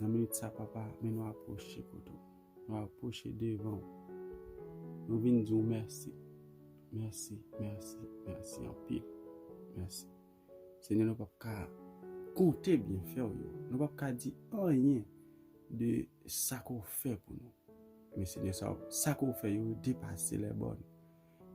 Nan minit sa papa, men nou apwoche kote ou. Nou apwoche devan ou. Nou vin di ou mèsi. Mèsi, mèsi, mèsi anpil. Mèsi. Senyè nou pap ka konte byenfè w yo, nou pap ka di anyen de sa ke w fè pou nou. Men Senyè sa ke w fè yo yo depase lèbòn,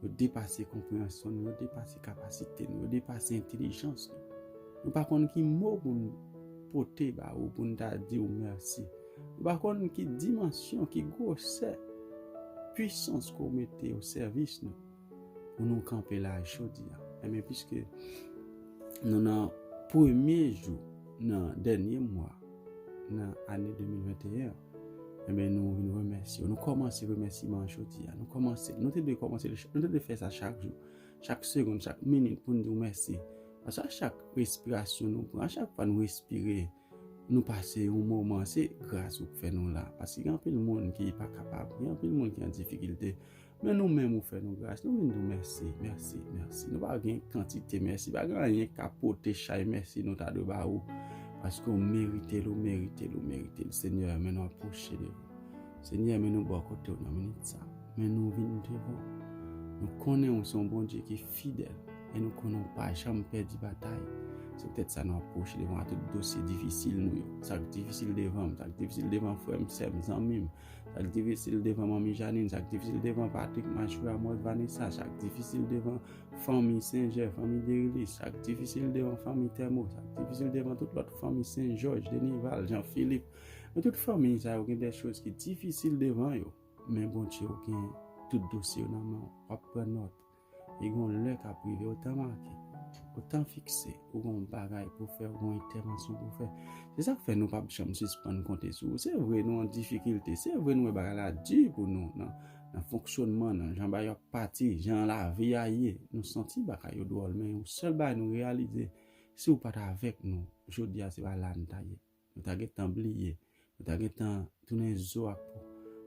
yo depase konpreyansyon nou, yo depase kapasite nou, yo depase entelijans nou. Nou pa konn ki mo pou n pote ba ou pou n ta di w mèsi. Nou pa konn ki dimansyon, ki gwosè pwisans ke w mete o sèvis nou. pou nou kanpe la jodi a. Emen, piske nou nan premye jou nan dènye mwa nan ane 2021, emen nou vin remèsi. Nou kòmanse remèsi man jodi a. Nou kòmanse. Nou te dwe kòmanse. Nou te dwe fè sa chak jou. Chak segonde, chak minit pou nou di ou mèsi. Ansa chak respirasyon nou pran, chak pa nou respire. Nou pase yon moman se gras ou k fè nou la paske gen anpil moun ki pa kapab gen anpil moun ki an difikilte men nou menm ou fè nou gras nou vin di w mèsi mèsi mèsi nou pa gen kantite mèsi pa gen anyen k ka pote chay mèsi nou ta dwe ba ou paske ou merite l ou merite l ou merite l senyè men nou ap pwoche devan ou. Senyè men nou bò kote w nan minit sa. Men nou vin devan w. Nou konnen ou se yon Bondye ki fidèl e nou konnen ou pa janm pèdi batay. Se poutèt sa nou ap pwoche devan w ak tout dosye difisil nou yo. Sa k difisil devan m, sa k difisil devan frè m, sè m, zanmi m, sa k difisil devan manmi Janine, sa k difisil devan Patrick, Majorie, Amos, Vanessa, sa k difisil devan fanmi Sen Jè, fanmi Derilis, sa k difisil devan fanmi Thermo, sa k difisil devan tout lòt fanmi Sen Jòj, Denival, Jean Philippe, Nan tout fanmiy sa yo gen de choz ki difisil devan yo, men Bondje ou gen tout dosye yo nan men w, wap pran nòt, e gen yon lè kap rive yon tan make, yon tan fikse ou gen yon bagay pou fè, ou gen yon entèvansyon pou fè. Se sak fè nou pap janm sispann konte sou ou. Se vre nou an difikilte, se vre nou wè bagay la di pou nou nan nan fonksyonman, nan jan bagay yo ap pati, jan lavi a ye, nou santi bagay yo dwòl men yon sèl bagay nou reyalize, si ou pat avèk nou, jodi a se pa la nou ta ye. Nou ta gen tan bliye, nou ta gen tan tounen zo ak po,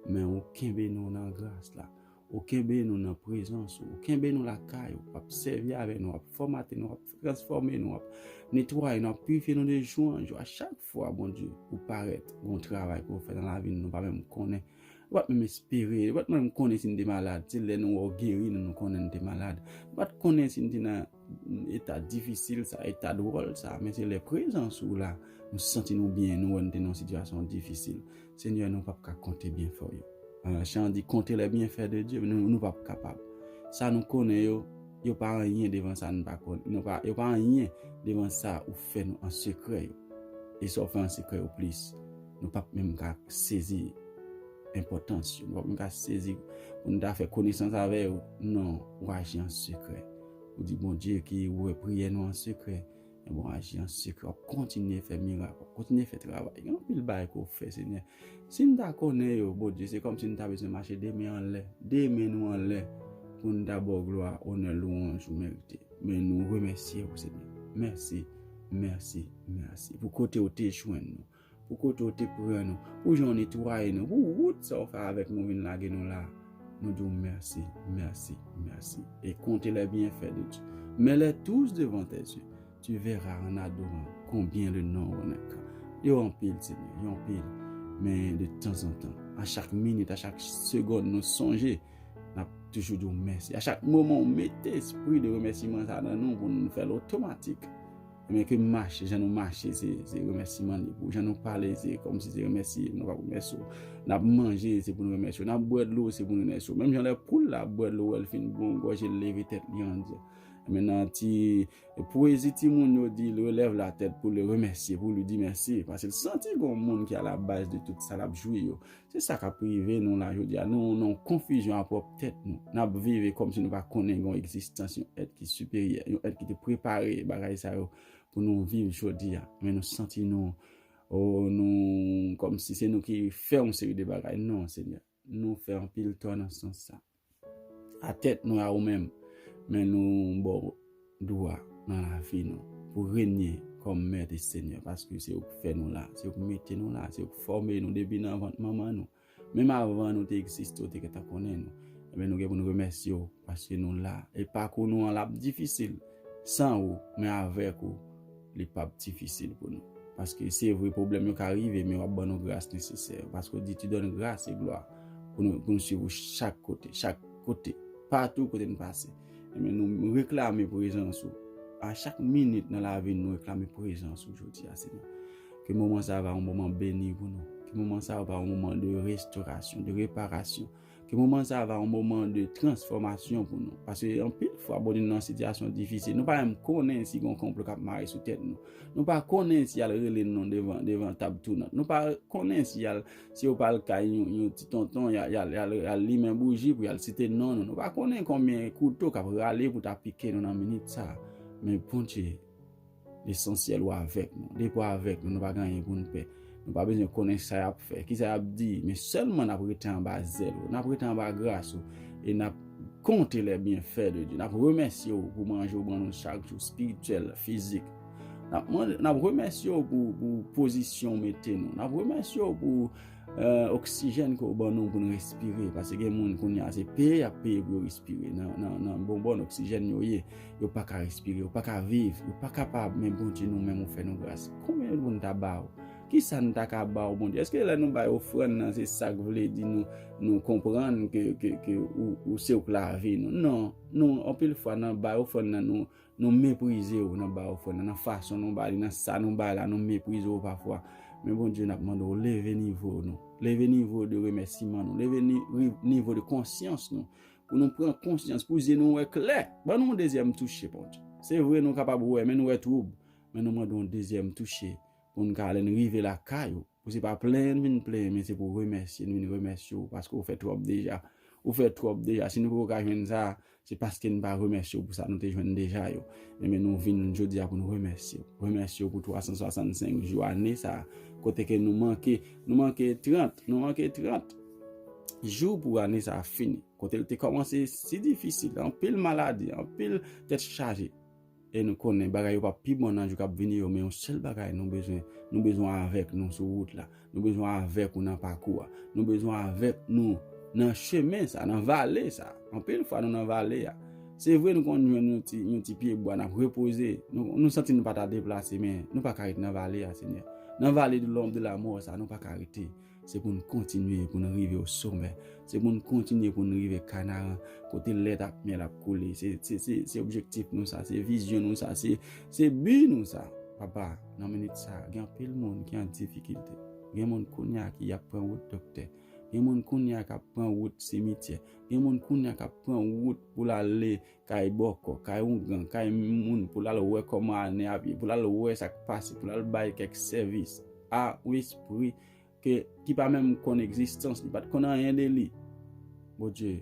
men ou kenbe nou nan gras la, ou kenbe nou nan prezans ou, ou kenbe nou lakay ou, wap sèvi avè nou, wap fòmate nou, wap transfòme nou, wap netwaye nou, wap pirifye nou de jou an jou. A chak fwa, Bondye, ou parèt, gon travay pou ou fè nan lavi nou, nou pa menm konnen. Nou pa t menm espere. Nou pa t menm konnen si n te malad. Se lè nou wè w geri nou nou konnen n te malad. Nou pa t konnen si n te nan eta difisil sa, eta dwòl sa. Men se lè prezans ou la, nou santi nou byen, nou wè n te nan yon sitiyasyon difisil. Senyè, nou pap ka konte byenfè w yo. Chan an di, Konte les bienfaits de Dieu. Men nou pap kapab. Sa nou konnen yo, yo pa anyen devan sa n pa konnen. Nou pa, yo pa anyen devan sa ou fè nou an sekrè yo. E sa w fè an sekrè yo plis. Nou pap menm ka sezi enpòtans yo. Nou pap menm ka sezi pou nou ta fè konesans avè yo. Non, ou aji an sekrè. Ou di Bondye ki wè priyè nou an sekrè, e bon aji an sekrè. Wap kontinye fè mirak, wap kontinye fè travay. Gen anpil bagay ke w fè Senyè. Si nou ta konnen yo, Bondye, se kòmsi nou ta bezwen mache de men an lè, de men nou an lè pou nou ta ba w glwa, onè, lwanj ou merite. Men nou remèsye ou Senyè. Mèsi, mèsi, mèsi pou kote ou te jwenn nou. Pou kote ou te pran nou. Pou jan ou netwaye nou. Pou wout sa ou fè avèk nou vin lage nou la a. Nou di ou mèsi, mèsi, mèsi. E konte lè byenfè de Dieu. Mets-les tous devant tes yeux. Tu verras en adorant combien le nom renaîtra. Yo anpil, Senyè. Yo anpil. Men de tanzantan. A chak minit, a chak segonn nou sonje, n ap toujou di ou mèsi. A chak moman ou mete espri de remèsiman sa nan nou pou nou fè l otomatik. Ebyen ke m mache jan nou mache se remèsiman li pou jan nou pale se kòm si se remèsi nou pa remèsi w n ap manje se pou nou remèsi w n ap bwè dlo se pou nou remèsi w menm jan lè poul la ap bwè dlo wè l fin bon gòje l leve tèt li an dye men nan ti pwezi timoun yo di l relève la tèt pou l remèsi pou l di mèsi paske l santi gon moun ki a la baz de tout sa l ap jwi yo Se sa k ap rive nou la jodi a. Nou nan yon konfizyon a pwòp tèt nou. N ap vive kòmsi nou pa konnen gen yon egzistans, yon èt ki siperyè, yon èt ki te prepare bagay sa yo pou nou viv jodi a. Men nou santi nou, o, nou, kòmsi se nou ki fè yon seri de bagay. Non, Senyè. Nou fè anpil tò nan sans sa a. A tèt nou a ou menm, men nou ba w dwa nan lavi nou pou w renye kòm Mèt e Senyè paske se ou ki fè nou la, se ou ki mete nou la, se ou ki fòme nou depi nan vant manman nou. Menm avan nou te egziste ou te gentan konnen nou. Enben nou gen pou nou remèsye w paske nou la e pakou nou an l ap difisil san ou men avèk ou Li pap difisil pou nou. Paske se vre pwoblèm yo ka rive men wap ban nou gras nesesè yo. Paske ou di tu donnes grâce et gloire pou nou pou nou swiv ou chak kote, chak kote, patou kote nou pase. Enben nou reklame prezans ou. A chak minit nan lavi nou nou reklame prezans ou jodi a Senyè. Ke moman sa va yon moman beni pou nou. Ke moman sa va yon moman de restorasyon, de reparasyon. Ke moman sa va yon moman de transfòmasyon pou nou. Pase yon pil fwa bon nou nan sityasyon difisil. Nou pa menm konnen si yon konplo kap mare sou tèt nou. Nou pa konnen si yal rele nou devan tab tounant. Nou pa konnen si yal, si yo pral kay yon ti tonton yal limen bouji pou yal site non nou. Nou pa konnen konbyen kouto kap rale pou ta pike nou nan minit sa. Men Bondye. Lesansyèl ou avèk nou. Depi w avèk nou, nou pa gen anyen pou n pè. Nou pa bezwen konnen sa y ap fè, ki sa y ap di, men sèlman n ap rete anba zèl ou, n ap rete anba gras ou, e n ap konte lè byenfè de Dye. N ap remèsye w pou manje ou ban nou chak jou, espirityèl, fizik. N ap remèsye w pou pozisyon ou mete nou. N ap remèsye w pou. Oksijèn ke w ban nou pou n respire, paske gen moun kounye a se peye y ap peye pou yo respire, nan bonbòn oksijèn yo ye, yo pa ka respire, yo pa ka viv, yo pa kapab, men Bondye nou menm ou fè nou gras. Konbyen nou vle ta ba w? Kisa nou ta ka ba w Bondye? Eske lè nou bay ofrann nan se sa k vle di nou konprann ke ou se ou k lavi nou? Non, nou anpil fwa nan bay ofrann nan nou Nou meprize ou nan ba ofrann nan, nan fason nou ba li, nan sa nou bay la, nou meprize ou pafwa. Men Bondye n ap mande ou leve nivo nou, leve nivo de remèsiman nou, leve nivo de konsyans nou, pou nou pran konsyans, pou zye nou wè klè. Ban nou yon dezyèm touche, Bondye. Se vre nou kapab wè, men nou wè twoub. Men nou mande yon dezyèm touche pou n ka ale n rive lakay ou. Ou se pa plenyen vin plenyen men se pou remèsye nou vin remèsye ou paske ou fè twòp deja. Ou fè twòp deja si nou poko ka jwenn sa a se paske nou pa remèsye ou pou sa nou te jwenn deja yo. Enben nou vin jodi a pou nou remèsye ou. Remèsye ou pou 365 jou ane sa a kote ke nou manke nou manke 30 nou manke 30 jou pou ane sa a fini kote l te kòmanse si difisil anpil maladi anpil tèt chaje. E nou konnen bagay yo pap pi bon nan jou kap vini yo men yon sèl bagay nou bezwen, nou bezwen avèk nou sou wout la, nou bezwen avèk ou nan pakou a, nou bezwen avèk nou nan chemen sa, nan vale sa. Anpil fwa nou nan vale a, se vre nou konn jwenn yon ti pye bwa nap repoze, nou santi nou pa ta deplase men nou pa ka ret nan vale a Senyè. Nan vale de lom de lamò sa nou pa ka rete. Se pou nou kontinye pou nou rive o somè. Se pou nou kontinye pou nou rive kanaran. Kote lèt ak myèl ap koule. Se objektif nou sa. Se vizyon nou sa. Se bi nou sa. Papa, nan minit sa, gen anpil moun ki an difikilte. Gen moun kounye a ki ap pran wout doktè. Gen moun kounye a k ap pran wout simityè. Gen moun kounye a k ap pran wout pou l ale kay bòkò, kay oungan, kay moun pou l al wè kòman ane ap ye, pou l al wè sa k pase, pou l al bay kèk sèvis a yon espri ke, ki pa menm konn egzistans li, pa t konn anyen de li. Bondye,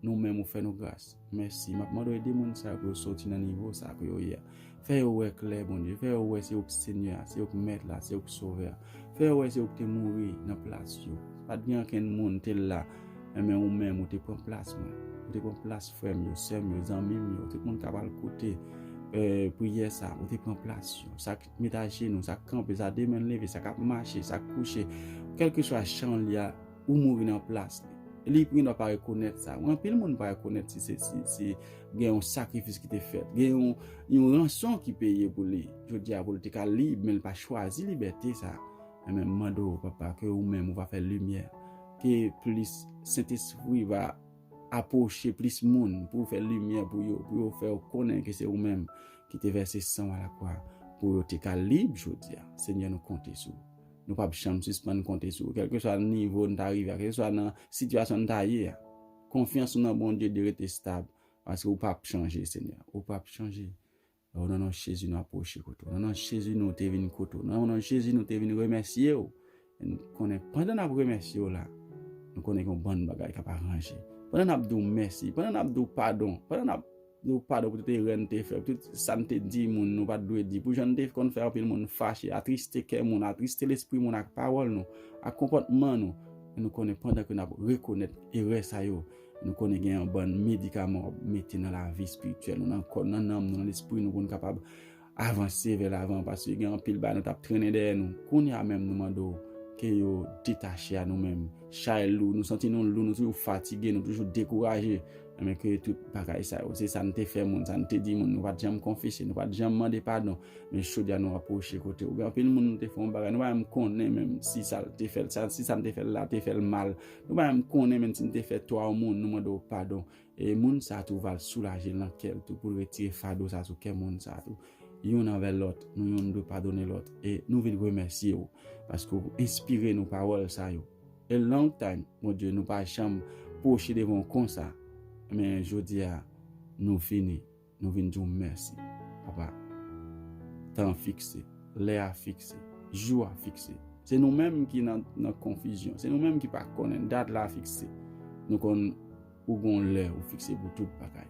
nou menm ou fè nou gras. Mèsi. M ap mande w ede moun sa yo pou yo soti nan nivo sa a ke yo ye a. Fè yo wè klè, Bondye. Fè yo wè se ou ki Senyè a, se ou ki Mèt la, se ou ki Sovè a. Fè yo wè se ou ki te mouri nan plas yo. Pa t gen ankenn moun te la, men ou menm ou te pran plas mwen. Ou te pran plas frè m yo, sè m yo, zanmi m yo, tout moun k ap al koute priyè sa a. Ou te pran plas yo. Sa k met ajenou, sa k kanpe, sa demen leve, sa k ap mache, sa k kouche, kèlkeswa chan li a. ou mouri nan plas li. Li gen dwa pa rekonèt sa. Anpil moun pa rekonèt si se si gen yon sakrifis ki te fèt. Gen yon ranson ki peye pou li. Jodi a pou li te ka lib men li pa chwazi libète sa. Mwen menm mande ou papa ke ou menm ou va fè limyè. Ke plis sentespri va apwoche plis moun pou ou fè limyè pou yo. Pou yo fè ou konnen ke se ou menm ki te vèse san ou a la kwa. Pou yo te ka lib jodi a. Senyè nou konte sou ou. Nou p ap janm sispann konte sou ou. Kèlkeswa nan nivo n ta rive a, kèlkeswa nan sitiyasyon n ta ye a, konfyans nou nan Bondye dwe rete stab, paske ou p ap chanje, Senyè. Ou p ap chanje. O, nan non Jezi, nou apwoche kote ou. Nan non Jezi, nou te vin kote ou. Nan non Jezi, nou te vin remèsye ou. E nou konnen, pandan n ap remèsye ou la, nou konnen gen yon bann bagay k ap aranje. Pandan n ap di ou mèsi, pandan n ap di ou padon, pandan n ap. Nou pa dwe pote rèn te fè. Tout sa n te di moun, nou pa t dwe di. Pou jan n te konn fè anpil moun fache, atriste kè moun, atriste lespri moun ak pawòl nou, ak konpòtman nou, men nou konnen pandan ke n ap rekonèt erè sa yo, nou konnen gen yon bann medikaman w ap mete nan lavi espirityèl nou, nan kò n, nan nanm nou, nan lespri nou pou n kapab Avanse vè lavan paske gen anpil bagay nou tap trennen dèyè nou kounya menm nou mande w ke yo detache a nou menm chay lou nou santi nou lou nou toujou fatige nou toujou dekouraje enben ke tout bagay sa yo se sa nou te fè moun sa nou te di moun nou pat janm konfese nou pat janm mande padon men jodi a nou apwoche kote ou gen anpil moun nou te fè yon bagay nou pa menm konnen menm si sa l te fè l sa si sa nou te fè l la te fè l mal nou pa menm konnen menm si nou te fè twa yon moun nou mande w padon E moun sa tou val soulaje l nan kè l tou pou l retire fado sa sou kè moun sa tou. Youn anvè lòt, nou youn dwe padone lòt. E nou vin remèsye ou paske ou enspire nou pawòl sa yo. A long time, Bondye, nou pa janm pwoche devan w konsa, men jodi a nou fini. Nou vin di w mèsi, Papa. Tan an fikse. Lè a fikse. Jou a fikse. Se nou menm ki nan konfizyon. Se nou menm ki pa konnen. Dat la fikse. Nou konn ou gen yon lè ou fikse pou tout bagay.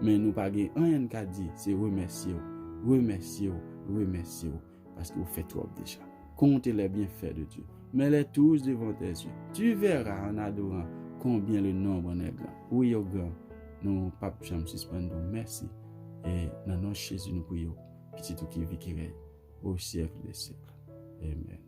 Men nou pa gen anyen n ka di se remèsye w. Remèsye w. Remèsye w. paske ou fè twòp deja. Konte les bienfaits de Dieu. Mets les tous devant tes yeux. Tu verras en adorant combien le nombre en est grand. Wi yo gran. Nou pap janm sispann di w mèsi. E nan non Jezi nou priye w, Pitit ou ki vi ki rèy o syèk de syèk. Amen.